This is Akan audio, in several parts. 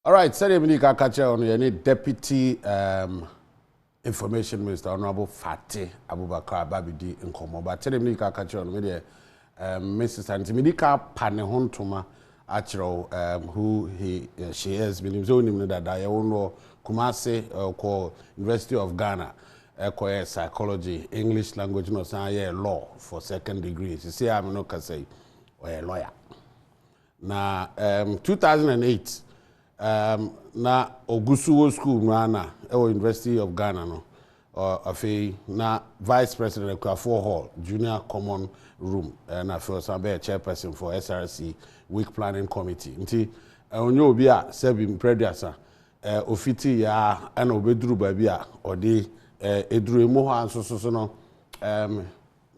All right, sɛdeɛ mede ka ka kyerɛ ɔno yɛne deputy um, information minister honorable fate abubakar aba bɛdi nkɔmmɔ ba sɛdeɛ mede ka ka kyerɛ ɔno medeɛ um, me sista nti mede ka pa ne ho ntoma akyerɛw um, who he, uh, she is menim sɛ wonim no dada yɛwo no Kumase uh, kɔ University of Ghana ɛkɔyɛ psychology English language na ɔsan yɛ law for second degree sisi a me no kasa yi ɔyɛ lawyer Na um, 2008 um, na ogu so wɔ school mu ara na ɛwɔ University of Ghana no uh, afei na vice president Akuafoɔ hall junior common room uh, na afei ɔsan bɛyɛ chairperson for SRC week planning committee nti uh, ɔnyɛ obi a sɛbi mprɛduasa uh, ofiti yɛ a ɛna ɔbɛduru baabi a ɔde uh, eduru emu hɔ a nso so no um,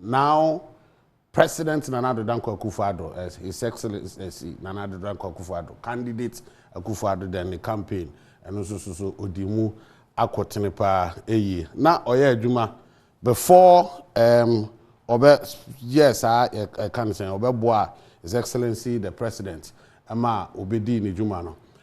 now President Nana Addo Dankwa Akufo-Addo, as His Excellency Nana Addo Dankwa Akufo-Addo, Candidate Akufo-Addo then ne campaign ɛno nso so so odi mu akotene paa eyi na ɔyɛ adwuma before ɛɛm ɔbɛ yɛɛ saa yɛ ɛka no sɛn ɔbɛboa His Excellency the President ɛma obedii ne dwuma no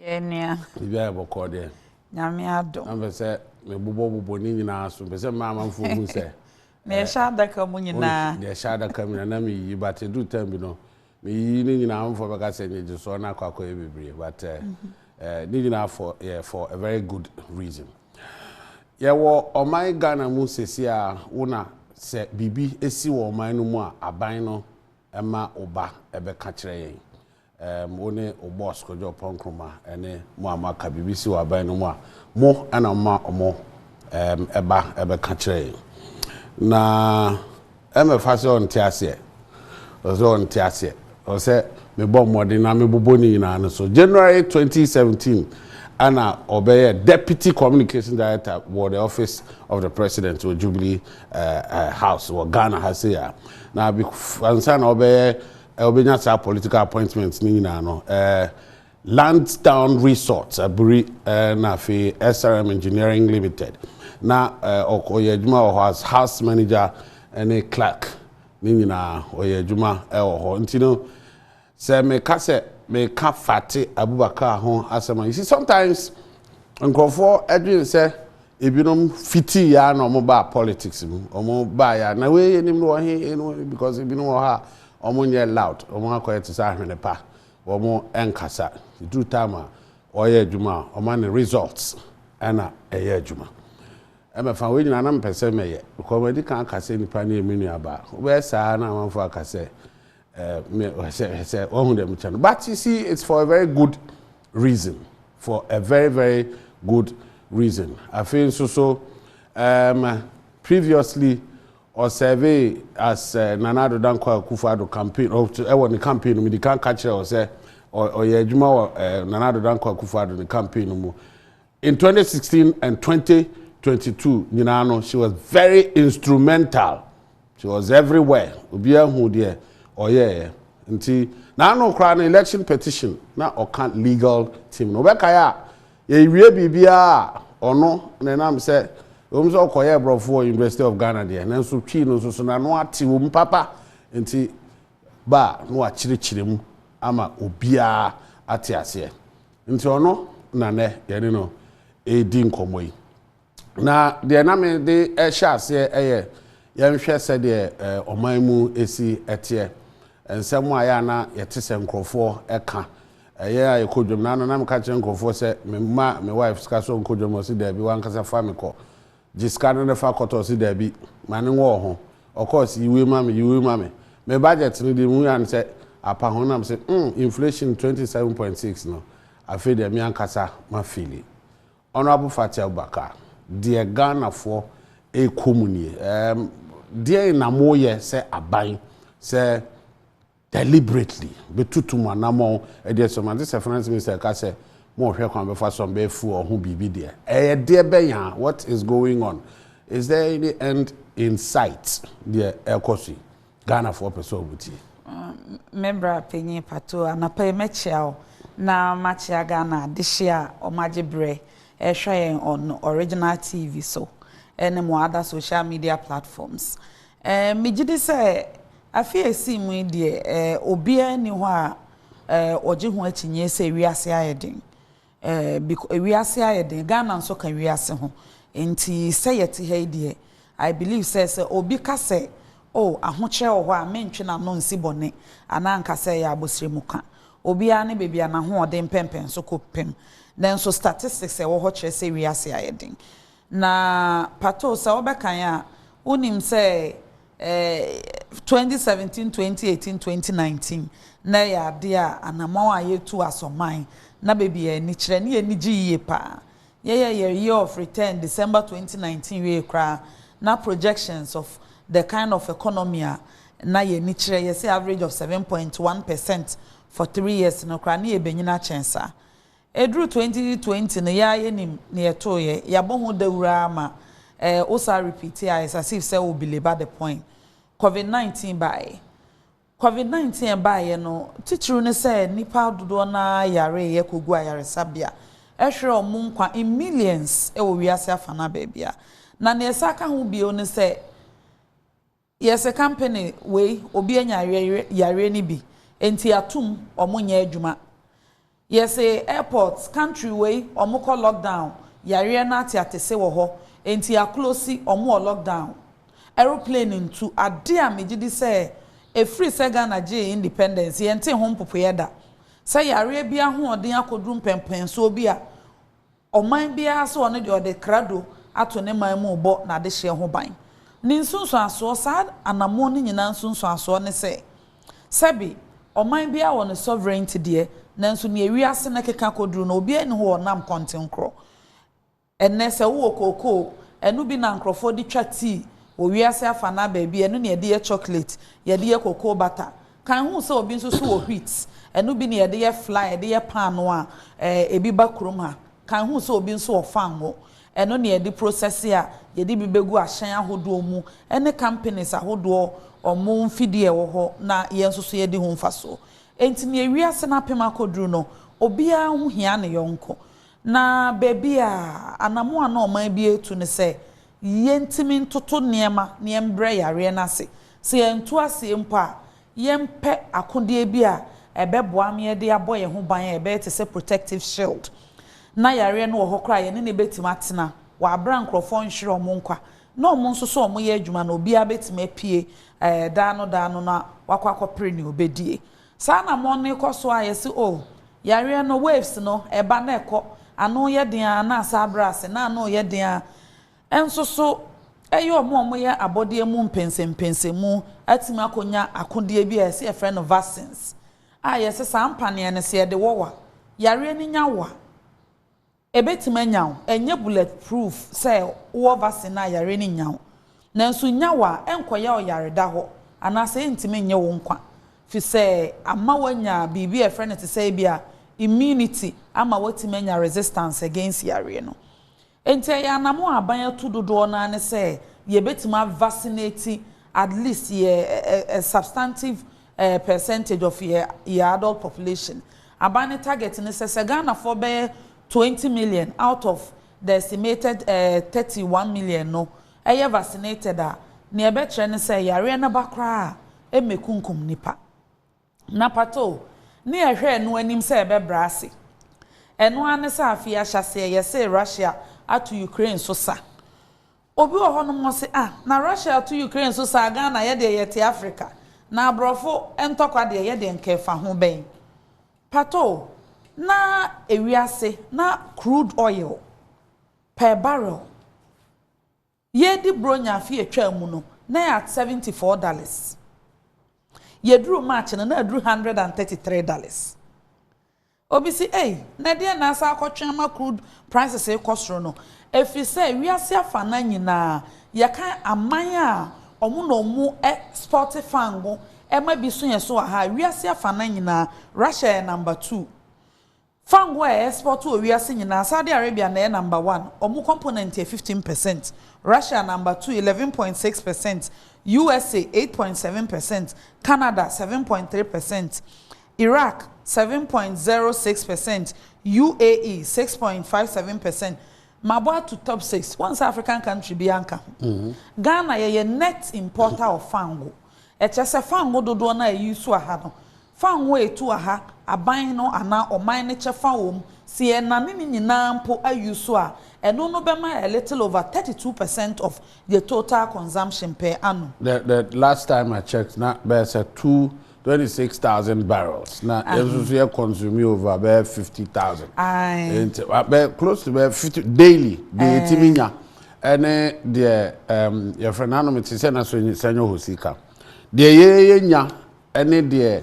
Yɛɛ nua. Biribiara yɛ bɔkɔɔ deɛ. Nyame adom. Na mpɛ sɛ me bobɔ bobɔ ne nyinaa so. Mpɛ sɛ mmaa amanfoɔ hu sɛ. Nea ɛhyɛ adaka mu nyinaa. Nea ɛhyɛ adaka mu nyinaa na me yiyi but ɛduru time bi no me yiyi ne nyinaa amanfoɔ bɛka sɛ nyegyesoɔ no akɔ akɔyɛ bebree but ɛɛ eh, eh, ne nyinaa for yɛ for a very good reason. Yɛwɔ ɔman Ghana mu sɛsi a wo na sɛ biribi si wɔ ɔman no mu a aban no ɛma wo ba ɛbɛka kyerɛ yɛn. Ɛɛm, wo ne wo boss Kojo Oppong Nkrumah ne mo a moaka biribi si wɔ aban no mu a, mo na moma ɔmo ɛɛm ɛba ɛbɛka kyerɛ yɛn. Na ɛmɛfa sɛ ɔnte aseɛ, ɔsɛ sɛ ɔnte aseɛ, ɔsɛ sɛ mebɔ mmɔden na mebobɔ ne nyinaa no so. January 2017 ɛna ɔbɛyɛ Deputy Communication Director wɔ the Office of the President wɔ Jubilee ɛɛ ɛɛ House wɔ Ghana ha sei a. Na bef ansa na ɔbɛyɛ Wobɛnya saa political appointments no nyinaa no ɛɛ Lansdowne Resorts aburi ɛɛ na afei SRM Engineering Limited na ɛɛ ɔk ɔyɛ adwuma wɔ hɔ as house manager ɛne clerk ne nyinaa ɔyɛ adwuma ɛwɔ hɔ nti no sɛ meka sɛ meka Fati Abubakar ho asɛm a you see sometimes nkurɔfoɔ ɛdwene sɛ Ebinom fitii aa na ɔmo baa politics mu, ɔmo baeɛ a na wei yenim no wɔ he he no because ebinom wɔ hɔ a ɔmo nyɛ loud, ɔmo akɔyɛ te sɛ ahwene pa, ɔmo nkasa. Eduru time a ɔɔyɛ adwuma a ɔma no results ɛna ɛyɛ adwuma. Ɛmɛfa wei nyinaa na mepɛ sɛ mɛyɛ because madi kan aka sɛ nipa no yɛ me nuabaa. Wobɛyɛ saa na amanfoɔ aka sɛ sɛ wahu dɛ mekyɛ no but you see it's for a very good reason for a very very good reason afei nso so um, previously ɔsɛve as uh, nana ado dankwa akufo ado campaign ɛwɔ ne campaign no mu de kan ka kyerɛ wɔ sɛ ɔyɛ adwuma wɔ nana ado dankwa akufo ado ne campaign no mu In twenty sixteen and twenty twenty two nyinaa no she was very instrumental she was everywhere obiara hu deɛ ɔyɛɛ nti n'ano koraa no election petition na ɔka legal team no ɔbɛkae a yɛwie biribiara a ɔno na ɛnam sɛ wɔn sɛ ɔkɔyɛ aborɔfo wɔ University of Ghana deɛ nanso twii no nso so n'ano ate wɔn papa nti ba a na wakyerɛkyerɛ mu ama obiara ate aseɛ. Nti ɔno na nnɛ yɛne no redi nkɔmmɔ yi. Na deɛ na mede hyɛ aseɛ yɛ yɛnhwɛ sɛdeɛ ɔman mu si teɛ. Nsɛm a ɛyɛ a na yɛte sɛ nkurɔfoɔ ka. Yɛn a yɛkɔ dwam, na ano na meka kyerɛ nkurɔfoɔ sɛ memma me wife sika sɛ ɔnkɔ dwam, ɔse daabi, wankasa fa me kɔ. Gye sika no ne fa kɔtɔ ɔse daabi ma ne nwɔ ɔho ɔkɔɔ se yiwei ma me yiwei ma me me budget no deɛ mehu ya ne sɛ apa ho nam se mm inflation twenty seven point six no afei deɛ me ankasa ma feeli Honourable Fathia Abubakar deɛ Ghana foɔ ɛkɔ mu nie ɛɛm deɛn na mo yɛ sɛ aban sɛ deliberately, bɛtutu mo anammɔn, ɛdeɛ sɛ moante sɛ Finance Minister reka sɛ mohwɛ kwan bɛfa so a mobɛfu wɔn ho biribi deɛ, ɛyɛ deɛ bɛn a? What is going on? Is there any end in sight deɛ ɛrekɔ so yi? Ghanafoɔ pɛ sɛ wɔtie. Me bra panyin patoo, anɔpa yi mɛkyea wo na makyea Ghana adehye a wɔagye berɛ rehwɛ yɛn on Original TV so ne mo other social media platforms. Ɛɛ, megye di sɛ afe a esii mu yi deɛ, ɛɛ, obiara nni hɔ a, ɛɛ, ɔgye ho akyinnyeɛ sɛ wiase ayɛ den. Ɛɛ, biko, wiase ayɛ den. Ghana nso ka wiase ho. Enti, sɛ yɛte ha yi deɛ, I believe sɛ, sɛ obi ka sɛ, Oh, ahokyerɛ wɔ hɔ a, mentwe n'ano nsi bɔne, anaa nka sɛ ɛyɛ abosrɛmu ka. Obiara ne baabi a n'ahoɔden mpɛmpɛnso kɔ pem. Nanso statistics a ɛwɔ hɔ kyerɛ sɛ wiase ayɛ den. Na pato sɛ wobɛkan a, wonim sɛ eh, 2017, 2018, 2019 na ɛyɛ adeɛ a anamɔn a yɛtu asɔ man na baabi a ani kyerɛ ne yɛn ani gye yie paa. Yɛyɛɛ yɛn year of return December 2019 wiee koraa na projections of the kind of economy a na yɛn ani kyerɛ, yɛse average of 7.1 percent for three years no koraa, ne yɛbɛnyini akyɛn saa. Ɛduru 2020 no yɛa yɛnim neɛ ɛtooeɛ, yɛabɔ ho dawuro ara ma ɛɛ wosaa repeat a it's as if sɛ wo belabor the point. Covid 19 baeɛ. Covid 19 a ɛbaeɛ no titiriw ne sɛ nnipa dodoɔ no ara yareeɛ kɔguu ayaresabea, ɛhwerɛɛ wɔn nkwa in millions wɔ wiase afanaa baabiara. Na neɛ ɛsan ka ho bio ne sɛ, Yɛ sɛ kampene wei obi anya yareɛ no bi nti atum ɔmo nyɛ adwuma yɛ se airport country wei ɔmo kɔ lockdown yareɛ no ateatese wɔ hɔ nti aklosi ɔmo wɔ lockdown aeroplane ntu ade a megye di sɛ ɛfiri sɛ Ghana gyee independence yɛntee ho mpopoeɛ da sɛ yareɛ bi ahoɔden akɔduru mpɛnpɛnsoɔ bi a Ɔman biara sɛ ɔno deɛ ɔde krado ato ne man mu rebɔ n'adehyeɛ ho ban. Ne nsunsuansoɔ, saa anammɔn no nyinaa nsunsuansoɔ ne sɛ, sɛbe, ɔman biara wɔ ne sovereignty deɛ, nanso nea wiase no keka kɔduru no, obiara nni hɔ a ɔnam kɔntenkorɔ. Ɛnnɛ, sɛ wowɔ kookoo, ɛno bi na nkorɔfoɔ de twa tea wɔ wiase afanaa baabi, ɛno na yɛde yɛ chocolate, yɛde yɛ cocoa butter, Kan hu sɛ obi nso so wɔ wheat, ɛno bi ne yɛde yɛ flour, yɛde yɛ paanoo a ebi ba kurom ha. Kan hu sɛ obi nso wɔ fango, ɛno ne yɛde prosɛse a yɛde bi bɛgu ahyɛn ahodoɔ mu ne companies ahodoɔ wɔn mfidie a ɛwɔ hɔ na yɛn nso so yɛdi ho mfasoɔ. Enti nea wiase no apem akɔduru no, obiara ho hia ne yɔnko. Na baabi a anammɔn a na ɔman bi retu ne sɛ, Yentumi ntoto nneɛma na yɛmbrɛ yareɛ no ase. Sɛ yɛantu aseɛ mpo a, yɛmpɛ akodeɛ bi a ɛbɛboa ma yɛde abɔ yɛn ho ban a ɛbɛyɛ te sɛ protective shield, na yareɛ no wɔ hɔ koraa a yɛne no bɛtumi atena wɔ aberɛ a nkorɔfoɔ nhwere wɔn nkwa na wɔn nso so wɔyɛ adwuma no obiara bɛtumi apue daa no daa no na wakɔ akɔpere nea ɔbɛdie. Saa na amono no kɔ so a yɛse oh. Yareɛ no, waves no, ɛba na ɛkɔ. Ano yɛ den ara na asan abrɛ ase, na ano reyɛ den ara. Nso so, ɛyɛ wɔn a wɔyɛ abɔdeɛ mu mpɛnsɛmpɛnsɛmu atumi akɔnya akodeɛ bi a yɛse yɛfrɛ no vaccines a yɛse saa mpaneɛ no sɛ yɛde wɔ wo a, yareɛ no nya wo a, Ebetumi anya wo, ɛnyɛ bullet proof sɛ wowɔ vaccine a yare no nnya wo. Nanso nya wo a, ɛnkɔyɛ ɔyareda hɔ anaasɛ ɛntumi nnye wo nkwa fisɛ ama woanya biribi a yɛfrɛ no te sɛ ebia immunity ama woatumi anya resistance against yareɛ no. Enti ɛyɛ anamo a aban atu dodoɔ no ara ne sɛ yɛbetumi a vaccinate at least yɛ a substantive Eh, percentage of yɛ yɛ adult population. Aban no target ne sɛ, sɛ Ghanafoɔ bɛyɛ twenty million out of the estimated eh, thirty one million no yɛ vaccinated a, nea ɛbɛkyerɛ ne sɛ yareɛ no ba koraa a, ɛmmɛkunkum nnipa. Na patoo, ne yɛhwɛ ɛno anim sɛ ɛbɛbrɛ ase. Ɛno ara ne sɛ afei ahyɛaseɛ yɛsee Russia ato Ukraine so sa. Obi wɔ hɔnom ɔse ah na Russia ato Ukraine so saa Ghana yɛdeɛ yɛte Africa na abrɔfo ntɔkwa deɛ yɛdeɛ nka ɛfa ho bɛn patoo na ewiase na crude oil per barrel yɛdi bronya afe atwaa mu no na ɛyɛ at seventy four dollars yɛduru March no na aduru hundred and thirty three dollars Obi se, Ei, na ɛdeɛn na asan akɔtwe ama crude prices rekɔ soro no? Ɛfiri sɛ wiase afanan nyinaa, yɛka aman a wɔn na wɔɛspɔɔte fango ma bi so yɛn so wɔ ha a, wiase afanan nyinaa, Russia yɛ number two. Fango a yɛɛspɔɔte wɔ wiase nyinaa, Saudi Arabia na ɛyɛ number one, wɔn component yɛ fifteen percent, Russia number two, eleven point six percent, USA, eight point seven percent, Canada, seven point three percent. Iraq, seven point zero six percent, UAE, six point five seven percent, Mabɔ ato top six, woahu sɛ African country biara nka ho. Ghana, yɛyɛ net importer of fango, ɛkyerɛ sɛ fango dodoɔ no a yɛ use wɔ ha no, fango a ɛtu wɔ ha, aban no anaa ɔman no kyɛ fa wɔ mu. Sɛ yɛnane ne nyinaa mpo a use a, ɛno no bɛma a little over thirty two percent of yɛ total consumption per annum. The the last time I checked na bɛyɛ sɛ two Twenty six thousand barrels na yɛn nso so yɛ consume over bɛyɛ fifty thousand. Aye. Nti bɛyɛ close to bɛyɛ fifty daily deɛ eh. yɛtumi nya ɛne deɛ um, yɛfrɛ no anom te sɛ na so sɛnyɛ hɔ sika deɛ yɛyɛ nya ɛne deɛ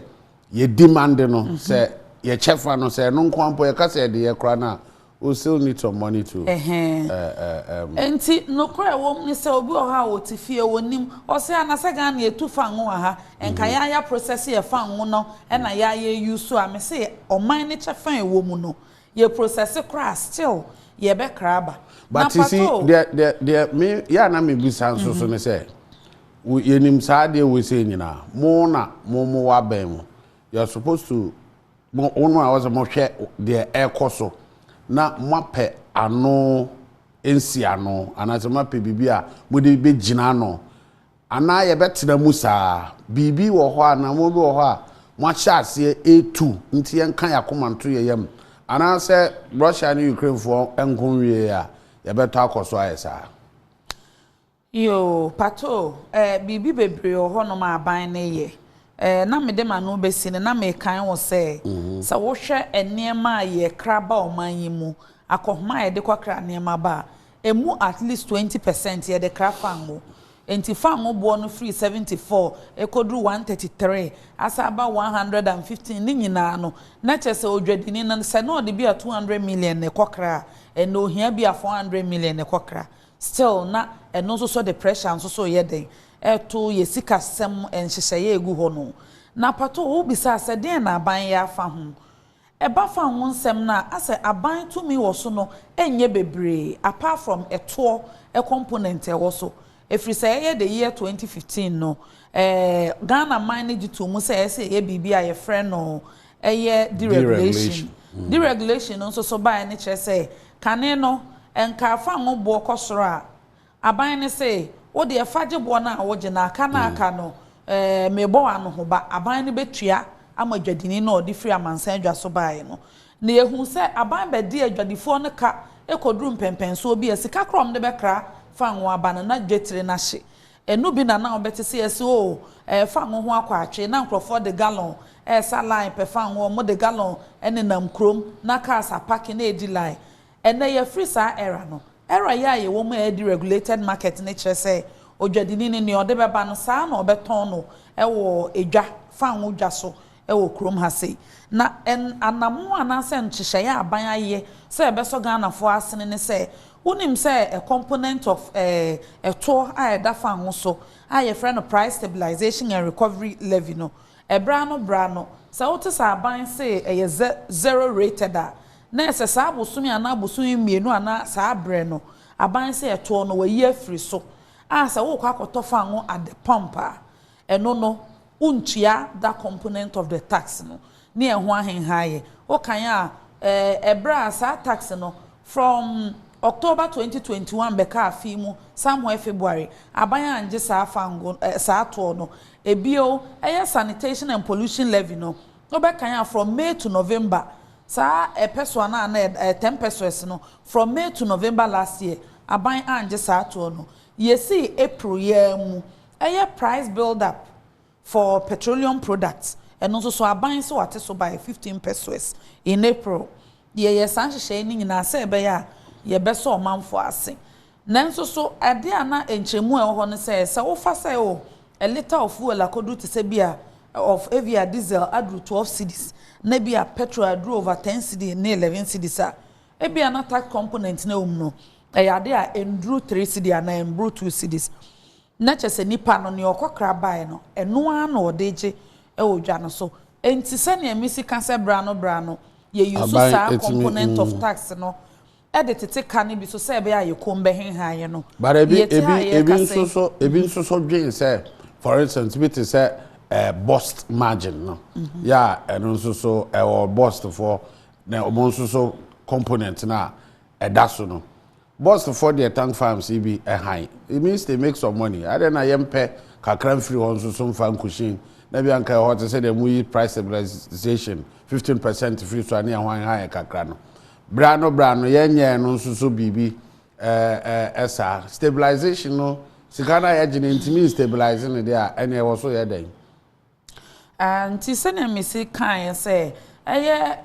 yɛdi mande no mm-hmm. sɛ yɛkyɛ fa no sɛ ɛno nko ampo yɛka sɛ ɛde yɛ kora no a U still need some money to um. Enti nokorɛ a ɛwɔ mu ne sɛ obi wɔ hɔ a ɔte fie, ɔnnim. Ɔse a na sɛ Ghana yɛtu fango wɔ ha, nka yɛa yɛa process yɛ fango no na yɛa yɛ use a, mese ɔman no kyɛfa a ɛwɔ mu no, yɛ process koraa a, still yɛbɛkra aba. But you see, deɛ, deɛ, me, yɛ a na mebisa nso so ne sɛ, yɛnim saa adeɛ wei sei nyinaa, mo na mo mo wɔ abɛn mo, you're supposed to. Mo wɔn a wɔse mohwɛ deɛ ɛrekɔ so na moapɛ ano nsiano anaasɛ moapɛ biribi a mode bɛgyina ano anaa yɛbɛtena mu saa, biribi wɔ hɔ a anaa nnoɔma bi wɔ hɔ a moahyɛ aseɛ retu nti yɛnka yɛn akoma nto yɛn yam anaasɛ Russia ne Ukrainefoɔ nko nwieeɛ a yɛbɛtɔ akɔ so ayɛ saa. Yoo patoo eh biribi bebree wɔ hɔ nom a aban no yɛ eh na mede m'ano besi no na mekae wo sɛ sɛ wohwɛ nneɛma a yɛ kra ba ɔman yi mu akɔhoma a yɛde kɔ kra nneɛma ba a emu at least twenty percent yɛde kra fango enti fango boɔ no firi seventy four ɛkɔduru one thirty three asan aba one hundred and fifteen ne nyinaa no na kyerɛ sɛ odwadini no sɛ na ɔde bi a two hundred million na ɛkɔ kra a ɛnɛ ohia bi a four hundred million na ɛkɔ kra Still na ɛno nso so de pressure nso so yɛ dɛn ɛto yɛ sikasɛm nhyehyɛeɛ a ɛgu hɔ no. Na patoo wo bisaa sɛ deɛn na aban yɛ afa ho? Ɛba fa ho nsɛm no a, asɛ aban tumi wɔ so no ɛnyɛ bebree apart from ɛtoɔ component a ɛwɔ so. Ɛfiri sɛ ɛyɛ the year 2015 no, eh, Ghana man no gye too mu sɛ ɛsɛ yɛyɛ biribi a yɛfrɛ no ɛyɛ deregulation. Deregulation no nso so baeɛ no kyerɛ sɛ kane no nkaa fa ngo boɔ kɔ soro a, aban no se wo deɛ fa gye boɔ no a wogye na aka no a aka no eh, mebɔ wo anohoba, aban no bɛtua ama dwadini no a ɔde firi amansan adwa so baeɛ no. Na yɛhuu sɛ aban bɛdi adwadifoɔ no ka kɔduru mpɛnpɛnsoɔ bi a sika korɔ a wɔde bɛkra fa ngo aba no na dwetire no ahye. Eno bi na na wɔbɛte se yɛse oo ɛɛ fango ho akɔ atwe na nkurɔfoɔ de gallon resa line pɛ fango wɔn de gallon nenam kurom na cars apake na ɛredi line. Ɛnɛ yɛafiri saa era no. Era yi a yɛwɔ mu a ɛredi regulated market no kyerɛ sɛ odwadini no nea ɔde bɛba no saa ara na ɔbɛtɔn no wɔ edwa, fango dwa so wɔ kurom ha sei. Na ɛn anamoo anaasɛ nhyehyɛeɛ a aban ayɛ sɛ ɛbɛsɔ Ghanafoɔ asene ne sɛ, wonim sɛ a component of ɛɛ ɛtoɔ a ɛda fan ho so a yɛfrɛ no Price Stabilisation and Recovery Levy no, ɛberɛ ano berɛ ano, sɛ wote sɛ aban se ɛyɛ ze zero rated a, na ɛsɛ saa bosome anaa bosome mmienu anaa saa berɛ no, aban se ɛtoɔ no wɔayi afiri so a sɛ worekɔ akɔtɔ fan ho at the pump a, Ɛno no, wontua da component of the tax no ne ɛho ahenhaeɛ. Wokan a, ɛɛ, berɛ a saa tax no from October twenty twenty one bɛkaa fee mu somewhere February, aban anngye saa fango, ɛɛ, saa toɔ no. Bio, ɛyɛ sanitation and pollution levy no, wobɛkan a from May to November, saa ɛpɛsoa no a na ɛda, ɛɛ, ten pesewas no, from May to November last year, aban anngye saa toɔ no. Yɛsii April yi ara mu ɛyɛ price build up for petroleum products, ɛno nso so aban so ate so by fifteen pesoes in April. Yɛyɛ saa nhyehyɛe no nyinaa sɛ ɛbɛyɛ a yɛbɛsɔ ɔmanfo ase. Nanso so ade a na nkyerɛmu a ɛwɔ hɔ ne sɛ, sɛ wofa sɛ oh, a litre of fuel akodu te sɛ bi a of ebia diesel aduru twelve cedis na bi a petrol aduru over ten cedi ne eleven cedis a, Ebia na tax component no a ɛwɔ mu no, ɛyɛ ade a ɛnduru three cedi anaa ɛmboro two cedis. Na kyerɛ sɛ nipa no, nea ɔkɔkra baeɛ no, ɛno ara na ɔde gye wɔ dwa no so. Enti sɛnea Misi ka sɛ bere ano bere ano, yɛyusu Aban saa tumi component of mm. tax no de tete ka no bi so sɛ ɛbɛyɛ a yɛ kɔn bɛhenha yɛ no. But ebi Yɛte ebi a ebi yɛreka nso sɛ, so ebi mhm, nso so dwen sɛ for instance bi te sɛ eh, bust margin no. Mhm. Yeah, ɛno nso so ɛwɔ bust for Na wɔn nso so component no a ɛda so no boss foɔ deɛ tank farms yi bi ɛhan it means they make some money adɛn na yɛn pɛ kakra nfiri hɔ nso so nfa nkusin na bi anka ɛhɔ te sɛ deɛ mo yi price stabilization fifteen percent firi so a ne yɛn ho anha yɛn kakra no berɛ ano berɛ ano yɛn nyɛ no nso so biribi ɛɛ ɛsaa stabilization no sika no a yɛgye no ntumi nstabilize no deɛ a ɛne ɛwɔ so yɛ dɛn. Nti sɛnea mesi kaeɛ sɛ ɛyɛ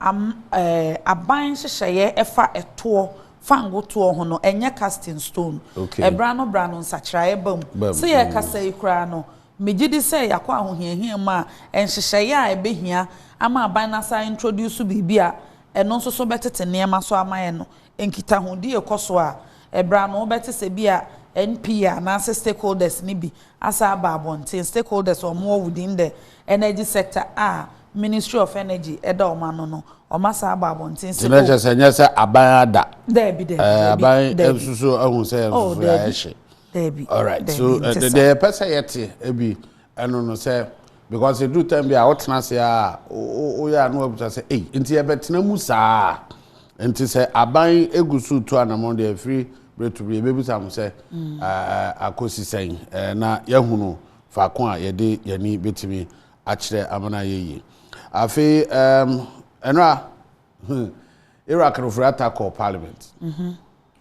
am ɛɛ aban nhyehyɛeɛ ɛfa ɛtoɔ fango toɔ ho no ɛnyɛ cast in stone. Okay. Ɛbra no bra no nsakyeraeɛ ba mu. Ba mu. Se yɛkasa yi koraa no, megye di sɛ yɛakɔ ahohiahia mu a nhyehyɛeɛ a ɛbɛhia ama aban no asan introduce biribi a ɛno nso so bɛtete nneɛma so ama yɛn no, nkitahodi rekɔ so a Ɛberɛ ano wobɛte sɛ bi a NPA anaasɛ stakeholders no bi asan aba abɔnten, stakeholders a wɔwɔ within the energy sector a Ministry of Energy da wɔn ano no, wɔasan aba abɔnten sɛ oh. Nti na kyerɛ sɛ nyɛ sɛ aban ada. Daabi, daabi, daabi. Aban nso so ahu sɛ yɛn nso so yɛayɛ hye. Daabi, daabi, nti sa. Deɛ yɛpɛ sɛ yɛte bi ɛno no sɛ. Because ɛduru time bi a wotena ase a woyɛ a na wabisa sɛ ei nti yɛbɛtena mu saa a? Nti sɛ aban gu so retu anamɔn deɛ ɛfiri berɛ to berɛ yɛbɛbisa ho sɛ akɔsi sɛn na yɛahunu faako a yɛde yɛni bɛtumi akyerɛ ama no ayɛ yie. Afei ɛnora Iraq no firi attack kɔɔ parliament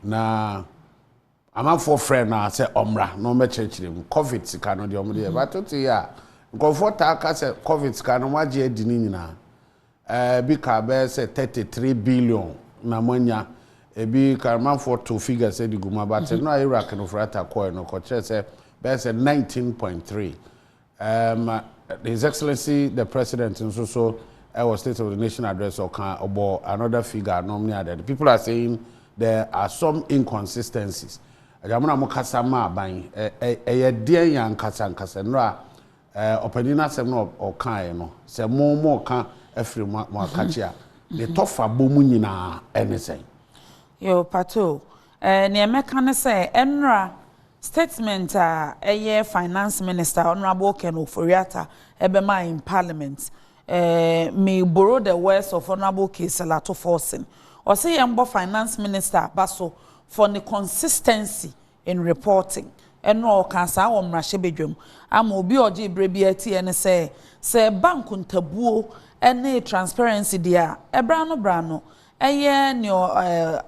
na Amanfoɔ frɛɛ no aa sɛ ɔmmra na ɔmmɛkyerɛkyerɛ mu. Covid sika no deɛ ɔmode yɛ but wote yɛ a nkurɔfoɔ taa ka sɛ Covid sika no moagye adi no nyinaa. Ɛɛ bi kaa bɛyɛ sɛ thirty three billion na moanya. Ebi ka amanfoɔ too figures de gu mu a but mmerɛ a Iraq no frata kɔɔɛ no kɔkyerɛɛ sɛ bɛyɛ sɛ nineteen point three Um, His Excellency the President nso so ɛwɔ eh, State of the Nation address ɔka ɔbɔ another figure nom ne adeade. People are saying there are some inconsistencies. Agya mo na mo kasa ma aban ɛyɛ eh, eh, deɛn yɛ ankasa nkasa nnora ɔpanyin no asɛm no ɔkaeɛ no sɛ mo mo ka afiri mo akakye a ne tɔfa bɔ mu nyinaa ɛne sɛn. Yo pato Eh, neɛ mɛka ne sɛ, ɛnora statement a ɛyɛ Finance Minister, Honourable Ken Ofori-Atta ɛbɛmaa in Parliament, eh, me borrow the words of Honourable Caesar Ato Forson, ɔse yɛnbɔ Finance Minister aba so for ne consistency in reporting. Ɛnora ɔkaa saa wɔ mmarahyɛbadwam. Ama obi a ɔgyee berɛ biara tiiɛ ne sɛ, sɛ ɛba nkontabuo ne transparency deɛ a, ɛberɛ ano berɛ ano, ɛyɛ neɛ, eh,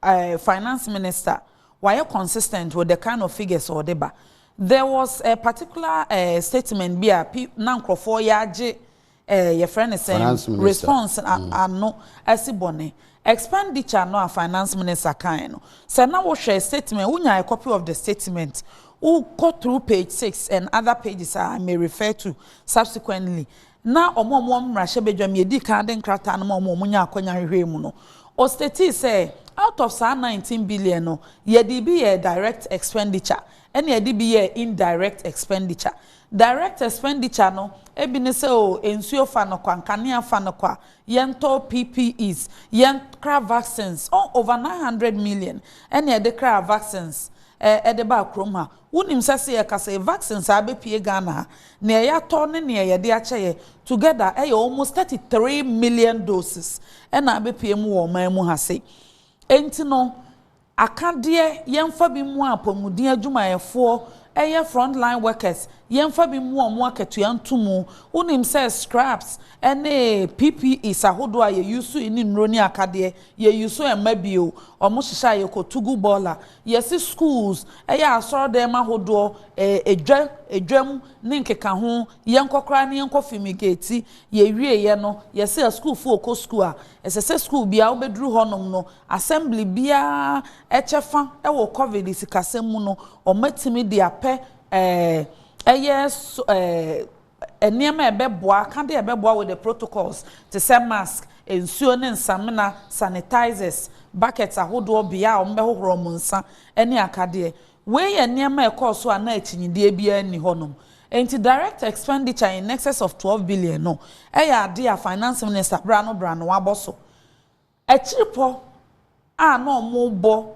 eh finance minister wayɛ consistent with the kind of figures a ɔde ba there was a particular eh statement bi a pi na nkurɔfoɔ yɛ agye eh yɛfrɛ ne sɛn Finance minister. response a- Mm. ano asi bɔne expenditure no a finance minister kaeɛ no sɛ na wohwɛ statement wonya a copy of the statement wokɔ through page six and other pages a I may refer to subsequently Ná wɔn a wɔwɔ mmarahyɛbadwam yi adi kan de nkrataa no maa wɔn a wɔnyaa akwannya hwehwɛɛ mu no. Ɔstatii sɛ, Out of saa nineteen billion no, yɛde bi yɛɛ direct expenditure, ɛnna yɛde bi yɛɛ indirect expenditure. Direct expenditure no bi ne sɛ, oh, nsuo fa no kwa, nkanea fa no kwa, yɛntɔ PPEs, yɛnkra vaccines. Oh, over nine hundred million na yɛde kraa vaccines de baa kurom ha. Wonim sɛ se yɛka se vaccine saa bepue Ghana a, neɛ yatɔ ne neɛ yɛde akyɛ yɛ together ɛyɛ almost thirty three million doses ɛna abepue mu wɔ ɔman mu ha se. Enti no, aka deɛ yɛmfa bi mmoa apɔmuden adwumayɛfoɔ ɛyɛ front line workers, yɛmfa bi mmoa wɔn akatua nto mu. Wonim sɛ scraps ɛne PPEs ahodoɔ a yɛ use ne nnuro ne akadeɛ, yɛ use mma bio, wɔn hyehyɛ a yɛkɔ tugu bɔɔla, Yɛse schools ɛyɛ asɔrdɛm ahodoɔ ɛɛ edwa edwam ne nkekaho yɛnkɔ koraa ne yɛnkɔ fimigate yɛwieɛ no yɛse asukuufoɔ ɔkɔ sukuu a ɛsɛsɛ sukuu biaa wobɛduru hɔnom no assembly biaa ɛkyɛfa wɔ covid sikasɛm mu no ɔmatumi de apɛ ɛɛ ɛyɛ ɛɛ Nneɛma a ɛbɛboa, Ka deɛ ɛbɛboa with the protocols, te sɛ mask, nsuo ne nsamena, sanitizers, buckets ahodoɔ, bea a wɔbɛhohoro wɔn nsa, ne akadeɛ. Wei yɛ nneɛma a ɛkɔɔ so a na akyinnyedie biara nni hɔnom. Enti direct expenditure in excess of twelve billion no yɛ adeɛ a Finance Minister bra no bra no wabɔ so. Akyirepɔ a na wɔrebɔ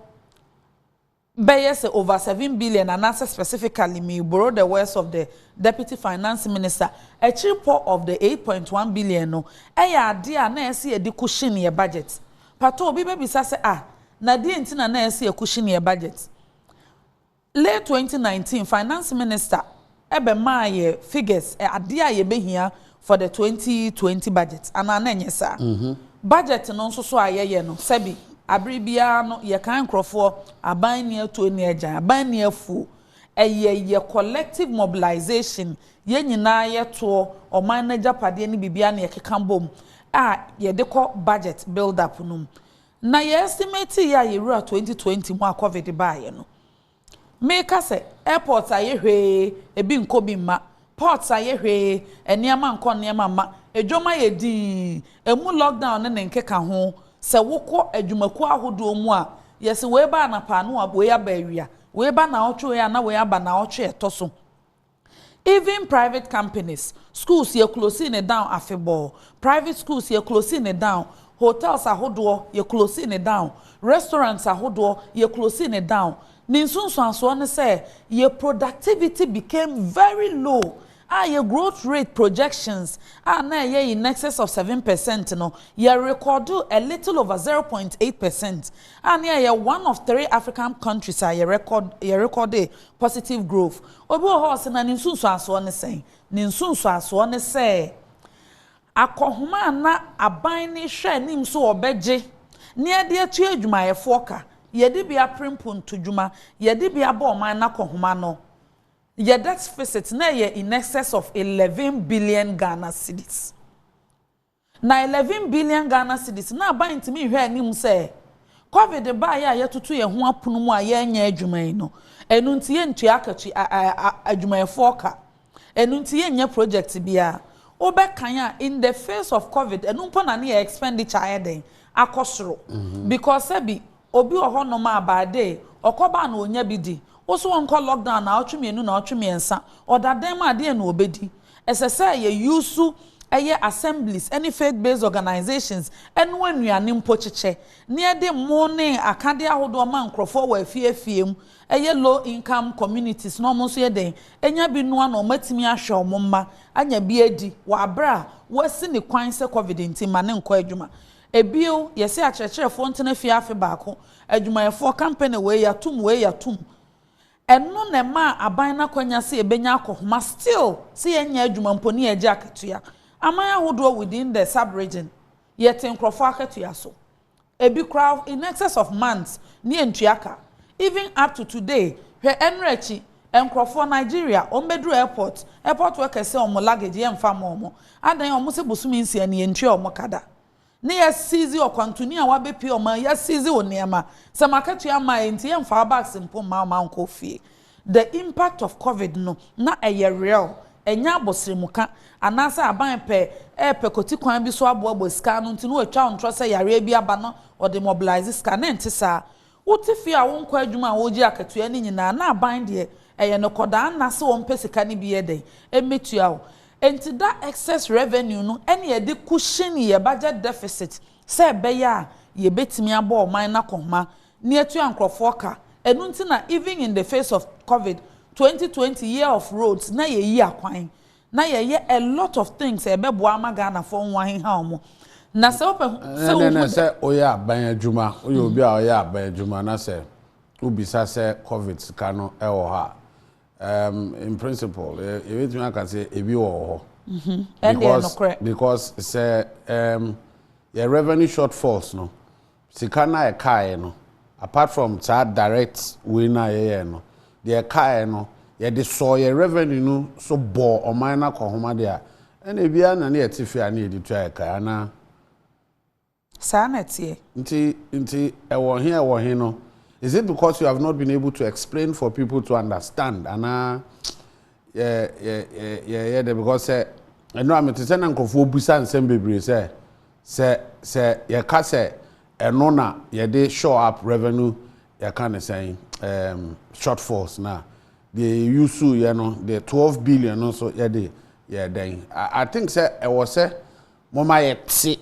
bɛyɛ sɛ over seven billion anaasɛ specifically me borrow the words of the Deputy Finance Minister, akyiripɔ of the eight point one billion no yɛ adeɛ a na ɛsɛ yɛde cushion yɛ budget. Mpatɔ obi bɛbisa sɛ ah, na deɛn nti na na ɛsɛ yɛ cushion yɛ budget? Late twenty nineteen Finance Minister ɛbɛmaa yɛ figures ɛ adeɛ a yɛbɛhia for the twenty twenty budget anaa na ɛnyɛ saa? Budget no nso so a yɛyɛ no sɛbi abere biara no yɛkae nkorɔfoɔ aban nni atuo nni agyan aban nni afuo ɛyɛ yɛ collective mobilization yɛn nyinaa yɛ toɔ ɔman no agyapadeɛ ne biribiara na yɛkeka bom a yɛde kɔ budget build up no mu na yɛ estimate yɛ a yɛwura twenty twenty mu a covid baeɛ no. Meka sɛ airport ayɛ hwee ebi nkɔ bi mma, ports ayɛ hwee nneɛma nkɔ nneɛma mma, dwom ayɛ dinn, ɛmu lockdown ne ne nkeka ho, sɛ wo kɔ adwumakuo ahodoɔ mu a yɛse wei ba anapa a na wei aba awia, wei ba naawɔtwe wei a na wei aba naawɔtwe a ɛtɔ so. Even private companies, schools yɛ closing no down afebɔɔ, private schools yɛ closing no down, hotels ahodoɔ yɛ closing no down, restaurants ahodoɔ yɛ closing no down, ne nsunsuansoɔ ne sɛ yɛ productivity became very low a yɛ growth rate projections a na ɛyɛ in excess of seven percent no yɛ recordoo a little over zero point eight percent a ne ɛyɛ one of three African countries a yɛ record yɛ recordee Positive Growth. Obi wɔ hɔ a ɔse, Na ne nsunsuansoɔ ne sɛn? Ne nsunsuansoɔ ne sɛ, akɔhoma a na aban no rehwɛ anim sɛ wɔbɛgye na wɔde atua adwumayɛfoɔ ka, yɛde bi apere mpontu-dwuma, yɛde bi abɔ ɔman no akɔhoma no, yɛ debt-fisit, na ɛyɛ in excess of eleven billion Ghana cedis. Na eleven billion Ghana cedis na aban ntumi nhwɛ anim sɛ covid baeɛ a yɛtoto yɛn ho apono mu a yɛrenyɛ adwuma yi no, ɛno nti yɛntua akatua a a a adwumayɛfoɔ ka. Ɛno nti yɛnnyɛ project biara. Wobɛkan a in the face of covid ɛno mpo na ne yɛn expenditure ayɛ dɛn? Akɔ soro. Because sɛbi Obi wɔ hɔ nom a by day ɔkɔ bar na ɔnya bi di. Wo so ɔnkɔ lockdown naawɔtwe mmienu naawɔtwe mmiɛnsa ɔda dan mu a deɛn na ɔbɛdi? Ɛsɛ sɛ yɛ use ɛyɛ assemblies ɛne faith based organisations ɛnoa nnuane mpo kyekyɛ na yɛde mmoo ne akadeɛ ahodoɔ ma nkorɔfoɔ wɔ afie afie mu ɛyɛ low income communities na wɔn nso yɛ dɛn ɛnya bi noa na wɔn atumi ahwɛ wɔn mma anya bi adi wɔ aberɛ a wɔasi ne kwan sɛ covid nti mma no nkɔ adwuma. Ebio, yɛse akyerɛkyerɛfoɔ ntena fie afe baako, adwumayɛfoɔ kampene wei yɛatom wei yɛatom. Ɛno na ɛmaa aban no akwanya se ɛbɛnya akɔhoma still se yɛnyɛ adwuma mpo ne yɛgye akatua. Aman ahodoɔ within the sub-region, yɛte nkorɔfoɔ akatua so. Ebi koraa in excess of months ne yɛntua ka. Even up to today, hwɛ ɛnnora akyi Nkrɔfoɔ Nigeria wɔn bɛduru airport airport workers sɛ wɔn luggage yɛ nfa mma wɔn adɛn wɔn se bosome nsia ni yɛntua wɔn ka da ne yɛ seize ɔkwantuni a wabɛ pie wɔn yɛ seize wo nneɛma sɛ mo akatua mma a enti yɛ nfa wo bags mpo mma wɔn ankɔ wo fie the impact of covid no na ɛyɛ real ɛnyɛ abɔsrɛmu ka anaa sɛ aban pɛ ɛɛpɛ kɔti kwan bi so aboa boa sika ano nti na wɔtwa ntorɔ sɛ yareɛ bi aba na wɔde mobilise sika na ɛnte saa Wote fie a wonkɔ adwuma a wogye akatua no nyinaa na aban deɛ ɛyɛ no kɔdaa nna sɛ ɔmpɛ sika no bi yɛ dɛn mmɛtua wo. Enti da excess revenue no ɛne yɛde cushion yɛ budget deficit sɛ ɛbɛyɛ a yɛbɛtumi abɔ ɔman no akɔhoma na yɛatua nkorɔfoɔ ka. Ɛno nti na even in the face of covid twenty twenty year of roads na yɛyi akwan Na yɛyɛ a lot of things a ɛbɛboa ama Ghanafoɔ ho aheha wɔn. Na sɛ wopɛ ho sɛ wohu dɛ. Sɛ woyɛ aban adwuma, woyɛ obi a ɔyɛ aban adwuma na sɛ wobisa sɛ covid sika no wɔ hɔ a, um, in principle, yɛbɛtumi aka sɛ ebi wɔ wɔ hɔ. Ɛndeɛ nokorɛ. Because sɛ um, yɛ revenue shortfalls no, Sika no a ɛkaeɛ no, apart from saa direct wei no a yɛyɛɛ no, deɛ ɛkaeɛ no, yɛde sɔɔ yɛn revenue no so bɔɔ ɔman no akɔnhoma deɛ a, ɛnna ebi ara na na yɛte fie a na yɛde tua yɛn ka, anaa? Saa na ɛteɛ. Nti, nti ɛwɔ he a ɛwɔ he no, is it because you have not been able to explain for people to understand, anaa yɛ, yɛ, yɛ, yɛyɛ dɛ? Because sɛ, ɛno a, mete sɛ na nkurɔfoɔ bisa nsɛm bebree sɛ, Sɛ sɛ yɛka sɛ ɛno na yɛde shore up revenue yɛka no sɛn um, shortfalls no a, deɛ yɛyusu yɛ no, the 12 billion no nso yɛde yɛ dɛn? I, I think sɛ ɛwɔ sɛ moma yɛte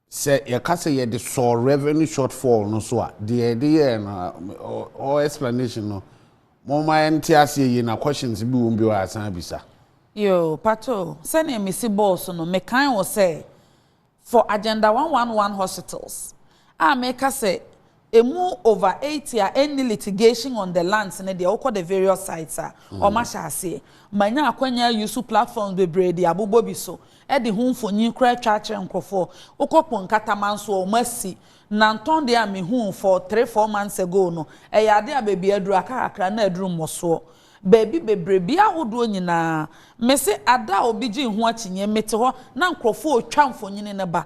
sɛ yɛka sɛ yɛde sɔɔ revenue shortfall no so a, deɛ yɛde yɛɛ no, or explanation no, Momma yɛnte aseɛ yie na questions bi wom bio a san abisa. Yoo, patoo, sɛdeɛ mesi bɔɔ so no, mekae wo sɛ for Agenda one one one hospitals a meka sɛ ɛmu over eighty a ɛnni litigation on the lands no deɛ wokɔ the various sites a, wɔahyɛ aseɛ. Manya akwanya ayi so platforms bebree de abobɔ bi so de ho mfonyin koraa atwa akyerɛ nkurɔfoɔ. Wokɔ Ponkataman nso a, wɔasi Na ntɔn deɛ a me huu for three four months ago no, ɛyɛ adeɛ a baabi a aduru aka kakra na aduru mmɔsoɔ. Baabi bebree, bea ahodoɔ nyinaa. Me se ada a obi gyee ho akyinnye, me te hɔ na nkorɔfoɔ retwa mfonini no ba.